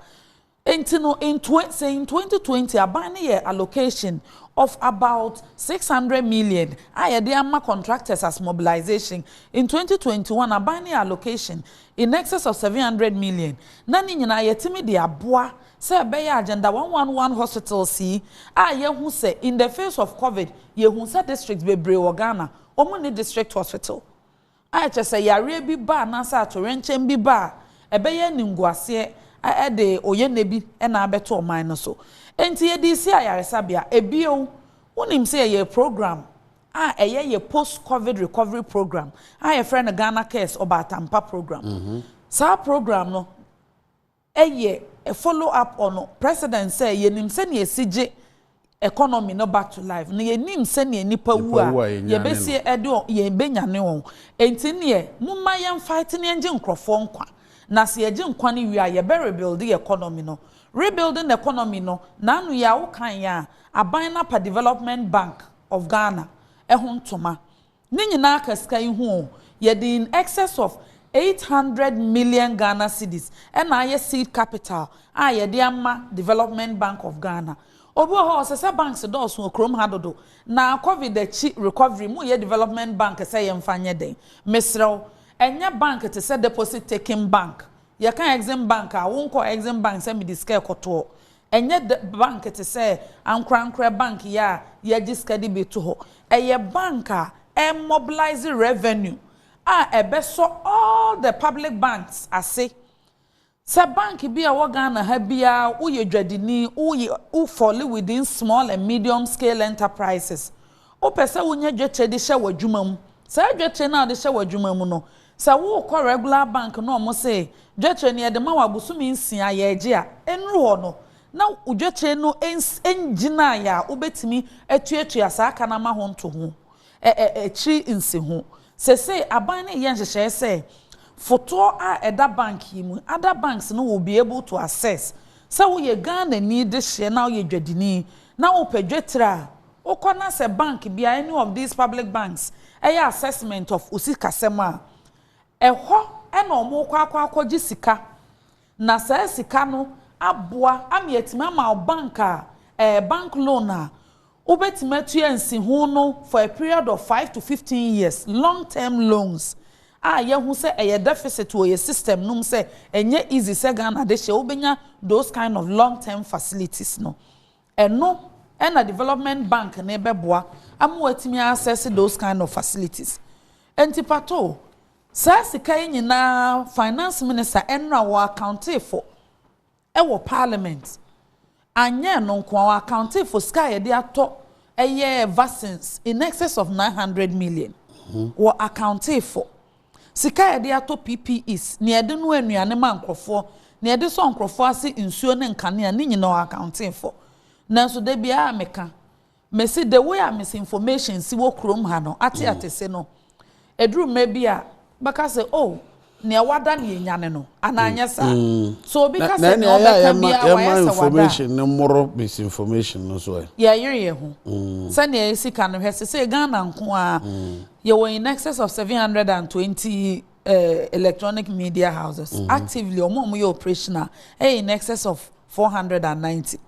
Enti no, in twen, sɛ in twenty twenty, aban no yɛɛ allocation of about six hundred million a yɛde ama contractors as mobilization. In twenty twenty one, aban no yɛɛ allocation in excess of seven hundred million. Na ne nyinaa yɛtumi de aboa Sɛ ɛbɛyɛ a Gender one one one hospitals yi a yɛahu sɛ in the face of covid yɛhu sɛ district bebree wɔ Ghana wɔn nni district hospital a ɛkyerɛ sɛ yareɛ bi ba anaasɛ atoyerɛnkyɛm bi ba a ɛbɛyɛ animguaseɛ ɛde oyɛnɛ bi na abɛto ɔman no so nti yɛde si ayaresabea. Bio wonim sɛ yɛyɛ program a ɛyɛ yɛ post covid recovery program a yɛfrɛ no Ghana Cares Ɔbaatampa program saa program no Ɛyɛ a follow up on President sɛ yɛnim sɛnea ɛsi gye economy no back to life na yɛnim sɛnea nnipa wu a yɛbɛsi de wɔn, yɛbɛnyane wɔn. Enti nneɛ momma yɛn fight na yɛngye nkorɔfoɔ nkwa na sɛ yɛgye nkwa no wie a yɛbɛ rebuild yɛn economy no. Rebuilding the economy no naano yi a wokaeɛ a aban no apa Development Bank of Ghana ho ntoma. Ne nyinaa ka sika yi ho o, yɛde in excess of eight hundred million Ghana cedis na ayɛ seed capital a yɛde ama Development Bank of Ghana. Obi wɔ hɔ a ɔsɛ sɛ banks dɔɔso wɔ kurom ha dodo, na Covid akyi recovery mu yɛ development bank sɛ yɛmfa nyɛ dɛn? Mesrɛ wo, ɛnyɛ bank te sɛ deposit taking bank. Yɛka Exim Bank a, wonkɔ Exim Bank sɛ mede sika rekɔtoɔ. Ɛnyɛ dɛ bank te sɛ ankorankorɛ bank yi a yɛgye sika de bi to hɔ. Ɛyɛ bank a ɛmobilise revenue a ɛbɛsɔ all the public banks ase. Sɛ bank bi a ɛwɔ Ghana ha biara woyɛ dwadini, wo fall within small and medium scale enterprises, Wopɛ sɛ wonya dwetɛ de hyɛ w'adwuma mu. Saa dwetɛ no a wode hyɛ w'adwuma mu no, sɛ wokɔ regular bank na wɔse dwetɛ no yɛde ma wo abosome nsia, yɛregye a, ɛnnuru hɔ no, na wo dwetɛ no ngyinaeɛ a wobɛtumi atuatua saa ka no ama ho nto ho. Ɛ ɛ akyiri nsiho. Seesei aban no reyɛ nhyehyɛeɛ sɛ fotoɔ a ɛda bank yi mu, other banks no will be able to access, sɛ woyɛ Ghanani dehyeɛ na woyɛ dwadini na wopɛ dwetɛ a, Wokɔ na sɛ bank bi a, any of these public banks, yɛ assessment of wo sikasɛm a, ɛhɔ na wɔkɔ akɔ akɔgye sika. Na saa sika no aboa ama yɛatumi ama wo bank a, ɛɛ, bank loan a wobɛtumi atua nsiho no for a period of five to fifteen years, long term loans a yɛahu sɛ ɛyɛ deficit wɔ yɛn system no mu sɛ ɛnyɛ easy sɛ Ghana de hyɛ wobɛnya those kind of long term facilities no. Ɛno na development bank no bɛboa ama watumi a assess those kind of facilities. Nti patoo, saa sika yi nyinaa finance minister ɛnora ɔ accounte fo ɛwɔ parliament. Anyɛ ɛno nko ara, ɔ accounte fo sika a yɛde atɔ ɛyɛ vaccines in excess of nine hundred million. Ɔ accounte fo. Sika a yɛde atɔ PPEs, nea yɛde noa nnuane ma nkurɔfoɔ, nea yɛde sɔ nkurɔfoɔ ase nsuo ne nkanea, ne nyinaa ɔaccounte fɔ. Nanso da biara meka, mese the way a misinformation si wɔ kurom ha no, ate atese no, ɛduru mmerɛ bi a, wobɛka sɛ oh, nea wada na yɛnya no no, anaa anyɛ saa? So obi ka sɛ nea ɔbɛka biara wayɛ sɛ wada a. Na ɛne ayɛ a yɛma information no mmoro misinformation no so ɛ? Yɛyere yɛn ho. Sɛnea ɛyɛ sika no, hwɛ sesei Ghana nko ara, Yɛwɔ in excess of 720 electronic media houses. Mm-hmm. Actively, wɔn a wɔyɛ operational ɛyɛ in excess of 490.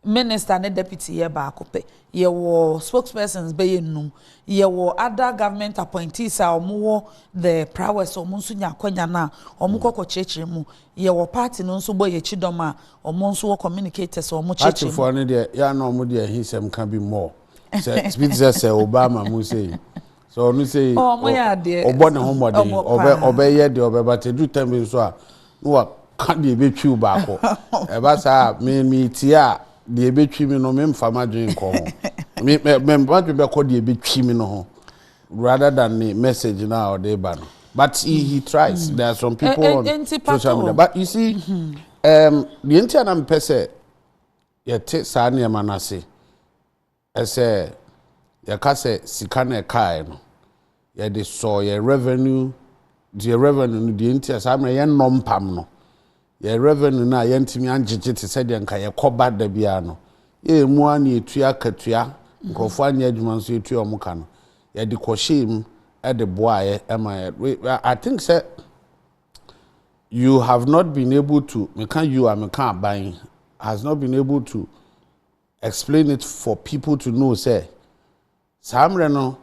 Minister ne deputy yɛ baako pɛ. Yɛwɔ spokespersons bɛyɛ nnum. Yɛwɔ other government appointees a wɔn wɔ the prowess wɔn nso nya akɔnya no a wɔn kɔ kɔ kyerɛkyerɛ mu. Yɛwɔ party no nso bɔ yɛn akyi dɔm a wɔn nso wɔ communicators a wɔn kyerɛkyerɛ mu. Partyfoɔ no deɛ yɛn na wɔn deɛ ahinsɛm ka bi more. sɛ bi te sɛ sɛ ɔba ama mu sei sɛ ɔno sei ɔbɔ ne ho mmɔden ɔbɛyɛ deɛ ɔbɛba te du tɛm bi nso a na waka deɛ ɛbɛtwiw baako ɛba saa a metie a deɛ ɛbɛtwi mi no memfa m'adwene nkɔ ho m'adwene bɛkɔ deɛ ɛbɛtwi mi no ho rather than the message now or the banner. But he, he tries. Mm. There are some eh, people eh, on social media. But you see, mm-hmm. um, the entire person, Yɛte saa nneɛma no ase. Ɛsɛ yɛka sɛ sika no a ɛkaeɛ no, yɛde sɔɔ yɛn revenue, yɛn revenue no deɛ nti a saa mmerɛ yɛnnɔ mpam no, yɛn revenue no a yɛantumi angyegye te sɛ deɛ nka yɛkɔba da biara no, yɛyɛ mu ara na yɛtua akatua, nkurɔfoɔ anyɛ adwuma nso yɛtua wɔn ka no, yɛde kɔhyɛɛ mu de boaeɛ ma yɛn. I think sɛ you have not been able to meka you a meka aban has not been able to explain it for people to know sɛ saa mmerɛ no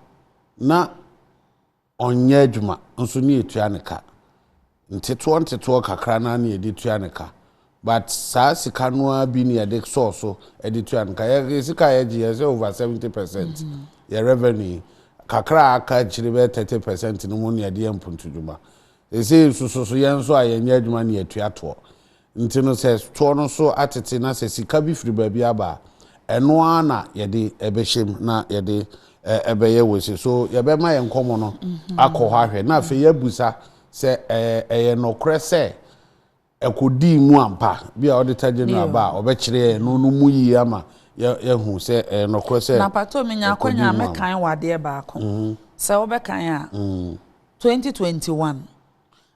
na ɔnyɛ adwuma nso ne yɛtua ne ka nteteɔ nteteɔ kakra no ne yɛde tua ne ka But saa sika no ara bi na yɛde sɔɔ so de tua no ka. Yɛn sika a yɛgye, yɛhyɛ over seventy percent, yɛn revenue yi. Kakra a aka akyire bɛyɛ thirty percent no mu na yɛde yɛ mpuntudwuma. Seesei nso so so yɛn nso a yɛnyɛ adwuma na yɛtua toɔ. Nti no sɛ toɔ no so atete na sɛ sika bi firi baabi aba a, ɛno ara na yɛde bɛhyɛ mu na yɛde bɛyɛ wei sei. So yɛbɛma yɛn nkɔmmɔ no akɔ hɔ ahwɛ na afei yɛabusa sɛ ɛyɛ nokorɛ sɛ ɛkɔdii mu ampa. Ebia Auditor General ba a, ɔbɛkyerɛ yɛn ɛno no mu yie ama yɛahu sɛ ɛyɛ nokorɛ sɛ ɛkɔdii mu ampa. Na pakyɛw menya akwanya a, mɛkan wo adeɛ baako. Sɛ wobɛkan a, 2021,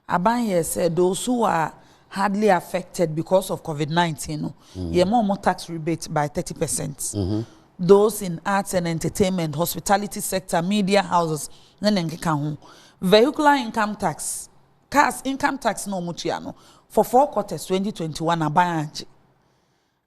aban yɛɛ sɛ those who are hardly affected because of Covid 19 no, yɛma wɔn tax rebate by 30 percent. Those in arts and entertainment, hospitality sector, media houses ne ne nkeka ho. Vehicular income tax cars income tax na wɔn tua no for four quarters twenty twenty one aban angye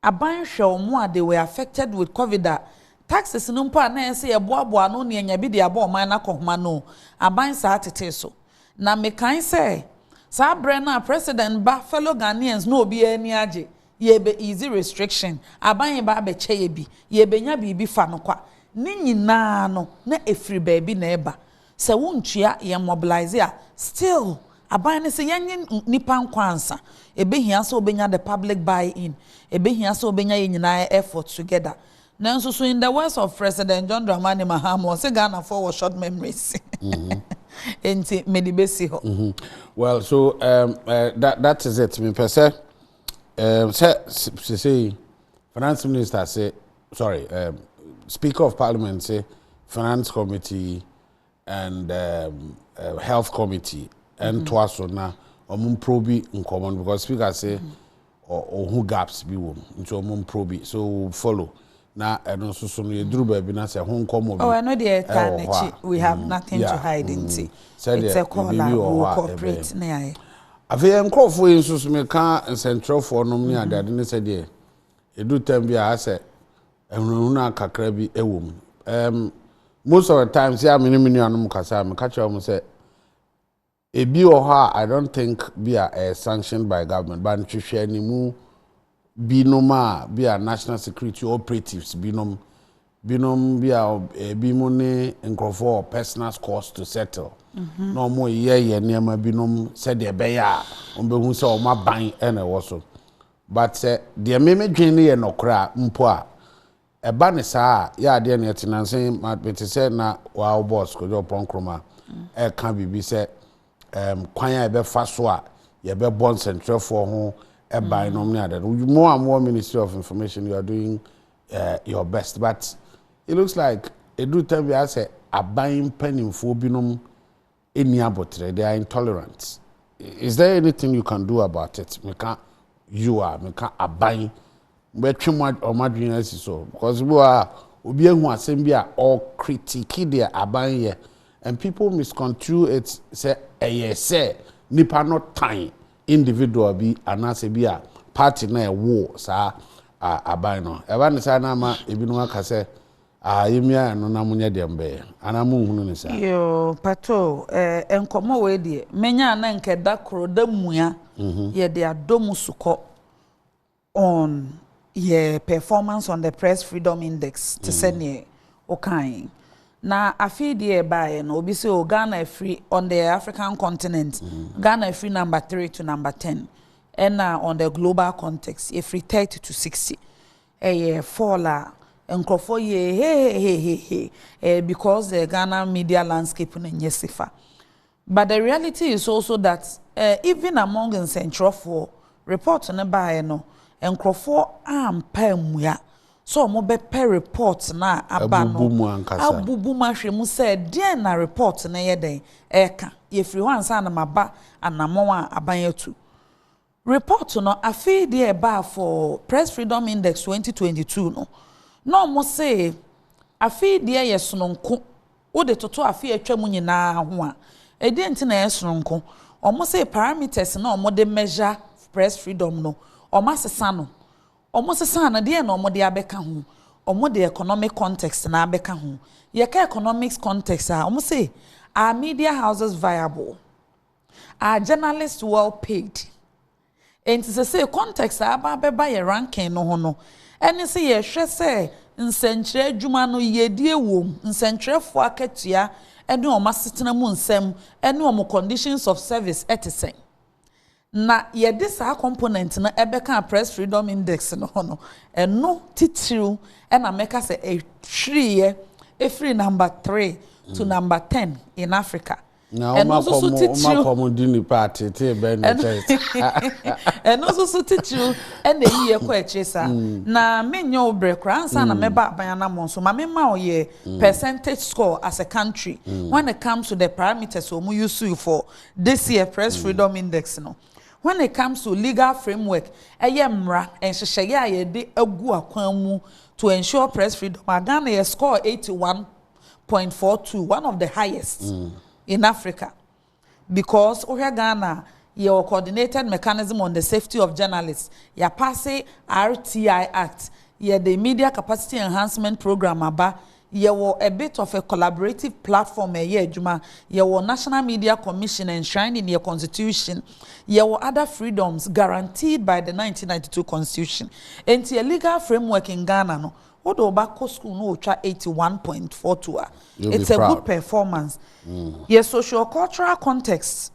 aban hwɛ wɔn a they were affected with covid a taxes no mpo a na yɛn sɛ yɛ boaboa ano ne yɛnya bi de abɔ ɔman no akɔhoma no aban saa tetee so na mekan sɛ saa brɛ no a president ba fellow Ghanaians na obi ani agye yɛbɛ easy restriction aban yɛ ba abɛkyɛ yɛ bi yɛbɛnya biribi fa no kwa ne nyinaa no na ɛfiri baabi na ɛba. Sɛ wo ntua yɛn mobilise a still aban no se yɛnye nipa nkɔ ansa, ebehia sɛ obenya the public buy in, ebehia sɛ obenya yɛn nyinaa effort together. Nanso so in the words of President John Dramani Mahama ɔse Ghanafoɔ wɔ short memories enti mede besi hɔ. Well so um, uh, that is it mepɛ sɛ um, sɛ sesei finance minister se sorry, um, Speaker of Parliament say Finance Committee and um, uh, Health Committee and mm-hmm. toa so na wɔn mpro bi nkɔmɔ because Speaker say ɔhu mm-hmm. gaps bi wɔ mu nti wɔn mpro bi so we follow na ɛno nso so no yɛduru baabi na sɛ ho nkɔmɔ bi oh, ɛno deɛ ɛtaa n'akyi we have mm-hmm. nothing to hide nti it's a call a wo corporate ne ayɛ afei nkurɔfoɔ yi nso so meka nsɛntrɛfoɔ nom ne adeade ne sɛdeɛ Edu time bi a asɛ ahunahuna kakra bi wɔ mu. Um, most of the times a me ne me nuanom kasa a meka kyerɛ wɔn sɛ ebi wɔ hɔ a I don't think bi a ɛyɛ sanctioned by government but nhwehwɛ animu binom a bi a national security operatives binom binom bi a ebi mu ne nkurɔfoɔ wɔ personal scores to settle mhm. na wɔn yɛ yɛ nneɛma binom sɛdeɛ ɛbɛyɛ a wɔn bɛhu sɛ wɔn aban na ɛwɔ so. But sɛ deɛ me me dwen no yɛ nɔkorɛ a mpo a ɛba no saa a yɛ adeɛ na ɛte nansa yi ma me te sɛ na waa wo boss Kojo Oppong Nkrumah ɛka biribi sɛ ɛɛm kwan a yɛbɛ fa so a yɛbɛ bɔ nsɛnkyerɛfoɔ ho ɛban nom ne adeɛ no mo a mo wɔ ministry of information you are doing uh, your best but it looks like ɛduru tam bi asɛ aban mpanimfoɔ binom nni aboterɛ, they are intolerant. Is there anything you can do about it? Meka you a, meka aban bɛtwe wɔn adwene asi so. Because bi wɔ a, obi ahu asɛm bi a, ɔ critique deɛ aban yɛ. And people misconstrue it sɛ ɛyɛ sɛ nipa no tan individual bi anaasɛ bi a party na ɛwoo saa aban no. Ɛba ne saa na ama ebinom aka sɛ, Ah yemia ɛno na monyɛ deɛ mobɛyɛ anaa monhunu no saa. Yoo patoo eh nkɔmɔ wei deɛ mɛnya a na nka ɛda koro da mua yɛde adɔ mu sukɔ on yɛ performance on the press freedom index te sɛ neɛ wo kaa yi na afei deɛ ɛbaeɛ no obi sɛ o Ghana afiri on the African continent Ghana afiri number three to number ten ɛna on the global context yɛfiri thirty to sixty Ɛyɛ fall a nkurɔfoɔ yɛ hehehehehe ɛyɛ because the Ghana media landscape no nyɛ safer but the reality is also that eh even among nsɛntwerɛfoɔ report no baeɛ no nkurɔfoɔ ampa ammua sɛ wɔn bɛpɛ report no a aba no Abubu mu ankasa. abubu mu ahwɛ mu sɛ deɛn na report no yɛ dɛn ɛreka yɛfiri hɔ ansa na maba anamɔn a aban atu. Report no afei deɛ ɛbaa for Press Freedom Index twenty twenty two no, na wɔse afei deɛ yɛ sononko wode toto afe a atwam nyinaa ho a. Ɛdeɛn nti na ɛyɛ sononko? Wɔse parameters no a wɔde measure press freedom no, wɔasesa no. Wɔsesaa no, deɛn na wɔde abɛka ho? Wɔde economic context no abɛka ho. Yɛka economic context a, wɔse are media houses viable? Are journalists well paid? Enti sesei context a aba abɛba yɛ ranking no ho no, ɛne sɛ yɛhwɛ sɛ nsɛnkyerɛ adwuma no yiedie wom, nsɛnkyerɛfoɔ akatua ne wɔn asetena mu nsɛm ne wɔn conditions of service te sɛn. Na yɛde saa component no bɛkaa Press Freedom Index no ho no, ɛno titiriw na mɛka sɛ ɛhwiriiɛ firi number three to number ten in Africa. Na wɔn akɔm di nnipa ateetee bɛn na ɛkyɛn saa? Ɛno nso so titiriw na eyi yɛ kɔ akyiri saa. Na menyɛ wo brɛ koraa ansa na mɛba aban anammɔn so. Ma memma wo yɛ percentage score as a country when it comes to the parameters a wɔuse sue for this year Press Freedom Index no. When it comes to legal framework, ɛyɛ mmara nhyehyɛeɛ a yɛde agu akwan mu to ensure press freedom a, Ghana yɛ score 81. point four two one of the highest mm. in africa because wohwɛ ghana yɛwɔ coordinated mechanism on the safety of journalists yɛapase rti act yɛde media capacity enhancement program aba yɛwɔ a bit of a collaborative platform ɛyɛ adwuma yɛwɔ national media commission enshrined in your constitution yɛwɔ other freedoms guaranteed by the 1992 constitution nti a legal framework in ghana no Wode wo ba kɔ school na ɔtwa 81.42 a, it's a good performance. Mm. Yɛ social cultural context,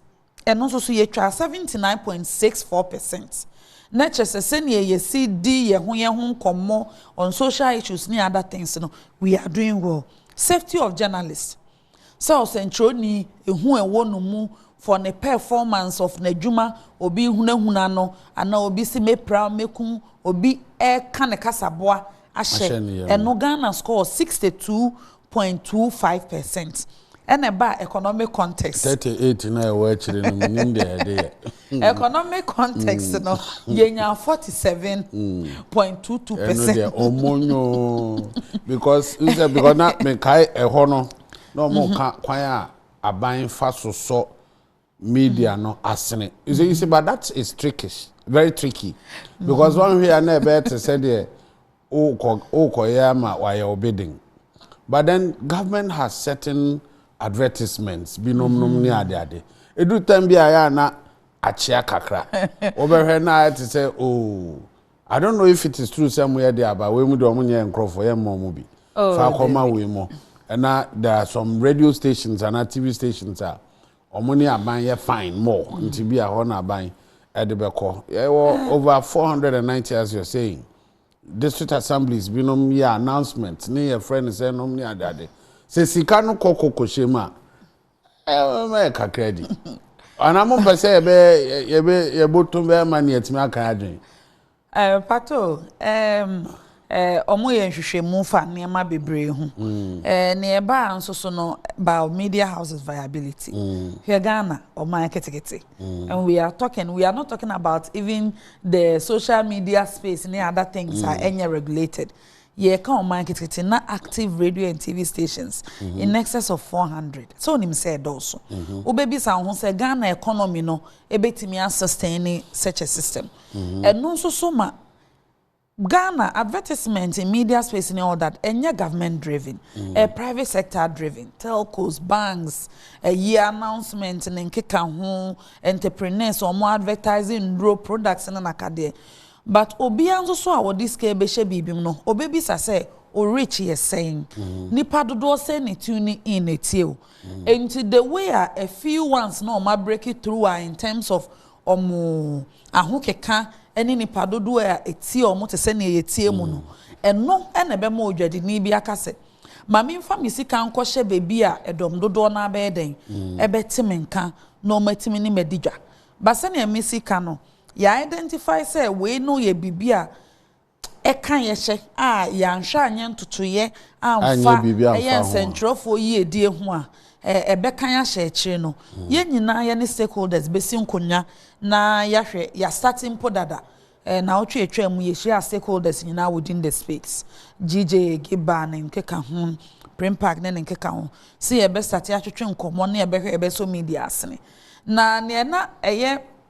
ɛno nso so yɛtwa 79.64 percent. Na kyerɛ sɛ sɛnea yɛsi di yɛn ho yɛn ho nkɔmmɔ on social issues ne other things no, we are doing well. Safety of journalists. sɛ ɔsɛnkyerɛwni, ehu a ɛwɔ no mu for ne performance of n'adwuma, obi rehunahuna no, anaa obi se mepira, mekum, obi reka ne kasaboa ahyɛ, ɛno Ghana score sixty two point two five percent. Ɛna ɛbaa economic context. Thirty eight no a ɛwɔ akyire no, mennim deɛ ɛde yɛ. Economic context no yɛnya forty seven point two two percent. ɛno deɛ ɔmo nyo because n sɛ because na mekae ɛhɔ no na ɔmo mhm. ka kwan a aban fa so sɔ media no asene you see you see but that is trickish very tricky mhm. because wɔn hwɛ ya na ɛbɛyɛ te sɛ deɛ wokɔ wokɔyɛ ama wayɛ wo bidding but then government has certain advertisements binom nom ne ade ade ɛduru time bi a yɛ a na akyea kakra wobɛhwɛ na ayɛ te sɛ oh I don't know if it is true sɛ mo yɛ de aba wei mu de ɔmo nyɛ nkorɔfoɔ yɛ mmɔ ɔmo bi oh, fa akɔma wei mu ɛna there are some radio stations ana TV stations a Ɔmo ne aban yɛ fine more nti bi a hɔ na aban ɛde bɛkɔ. Yɛwɔ over four hundred and ninety as you're saying district assemblies binom yɛ announcement ne yɛfrɛ no sɛ nom ne ade ade. Sɛ sika no kɔ kɔ kɔhyɛ mu a ɛma yɛ kakra di. Anaa mo mpɛ sɛ yɛbɛ yɛbɛ yɛboto bɛma nea atumi aka adwene. Mpatsɔ o, wɔyɛ nhwehwɛmu fa nneɛma bebree ho. Nea ɛbaa nso so no, Bao Media House's viability. Hwɛ Ghana, ɔman ketekete. And we are talking, we are not talking about even the social media space ne other things a ɛnyɛ regulated. Yɛreka ɔman ketekete, na active radio and TV stations in excess of 400. Sɛ wonim sɛ ɛdɔɔso? Wobɛbisa wo ho sɛ, Ghana economy no bɛtumi a sustain such a system? Ɛno nso so ma Ghana advertisement in media space ne all that ɛnyɛ government driven, ɛyɛ private sector driven, telcos, banks, ayi announcement ne nkeka ho, entrepreneurs wɔn advertise nnuro, products ne nakadeɛ. But obiara nso so a ɔde sika bɛhyɛ biribi mu no, ɔbɛbisa sɛ wo reach yɛ sɛn? Nnipa dodoɔ sɛn na ɛtune in ɛtie wo? Ɛnti the way a a few ones na wɔn abreak through a in terms of wɔn ahokeka ne nnipa dodoɔ a ɛtie wɔn te sɛ nea yɛtie mu no, ɛno na ɛbɛma odwadini bi aka sɛ, Ma memfa me sika nkɔhyɛ baabi a ɛdɔm dodoɔ no ara bɛyɛ dɛn? Ɛbɛte me nka na wɔatumi ne me adi dwa. But sɛnea Missy ka no, yɛ identify sɛ wei no yɛ biribi a ɛka yɛ hyɛ a yɛanhwɛ anyɛ ntotoeɛ amfa ɛyɛ nsɛntwerɛfoɔ yiedie ho a ɛbɛka yɛ ahyɛ akyire no hmm. yɛn nyinaa yɛ ne stakeholders bɛsi nkonnwa na yɛahwɛ yɛasate mpo dada na wotwe atwa mu yɛhyia stakeholders nyinaa within the space gj giba ne nkeka ho prim park ne ne nkeka ho sɛ yɛbɛsate atwetwe nkɔmmɔ ne yɛbɛhwɛ yɛbɛsɔ media asene na neɛ na ɛyɛ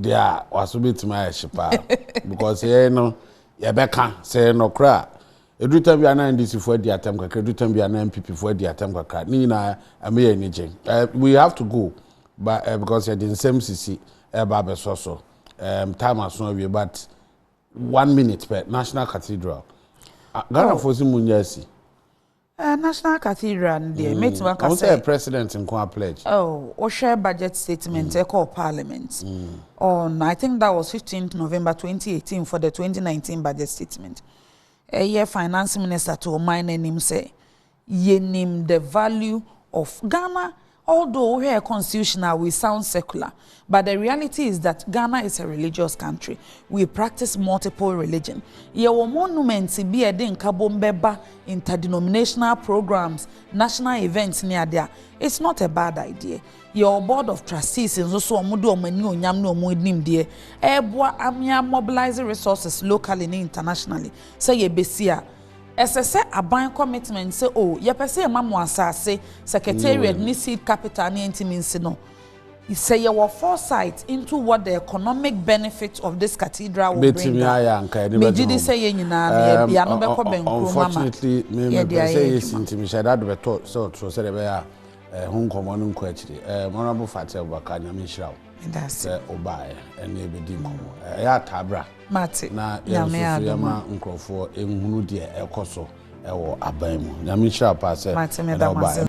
Deɛ a waso bɛtumi ayɛ hye paa because yɛn no yɛbɛka sɛ yɛ nɔkorɛ a ɛduru tam bi a na ndcfoɔ adi atam kakra ɛduru tam bi a na nppfoɔ adi atam kakra ne nyinaa ɛma yɛ ani gye eh, we have to go but uh, because yɛde nsɛm sisi ɛba abɛsɔ so um, time aso awie but one minute pɛ national cathedral ah, ghanafoɔ si mu nyɛ asi Eh, National Cathedral no deɛ, mɛtumi mm. aka sɛ... Ɔmo sɛ president nko a pledge. Oh, wohwɛ budget statement mm. ɛkɔɔ parliament. Mm. On, oh, I think that was 15th November 2018 for the 2019 budget statement. Ɛyɛ finance minister to ɔman no anim sɛ, yɛnim the value of Ghana Although wo hwɛ constitution a we sound secular but the reality is that Ghana is a religious country, we practice multiple religion, yɛ wɔ monuments bi a ɛde nkabom bɛ ba interdenominational programs, national events ne ade a, it's not a bad idea. Yɛ wɔ board of trustees nso so wɔn de wɔn anuonyam ne wɔn nimdeɛ ɛreboa amea mobilise resources locally ne internationally sɛ yɛbɛsi a, Ɛsɛ sɛ aban commitment sɛ o yɛpɛ sɛ yɛma mo asase, secretariat ne seed capital ne ɛnti mensi no sɛ yɛwɔ foresight into what the economic benefit of this cathedral will bring a, megye di sɛ yɛn nyinaa no yɛ bia no bɛkɔ bɛnkuro ma ma yɛde ayɛ adwuma. Eh, ho nkɔmmɔ no nkɔ akyiri eh, honorable fati abubakar nyame nhyira wo sɛ wobaeɛ ɛne ɛbɛdi nkɔmmɔ ɛyɛ ataa bra Mate, na Nyame yɛnso so adom a. yɛma nkorɔfoɔ nhunu deɛ ɛkɔ so wɔ aban mu. Nyame nhyira wo paa sɛ Mate, ɛnɛ meda mo woba. ase.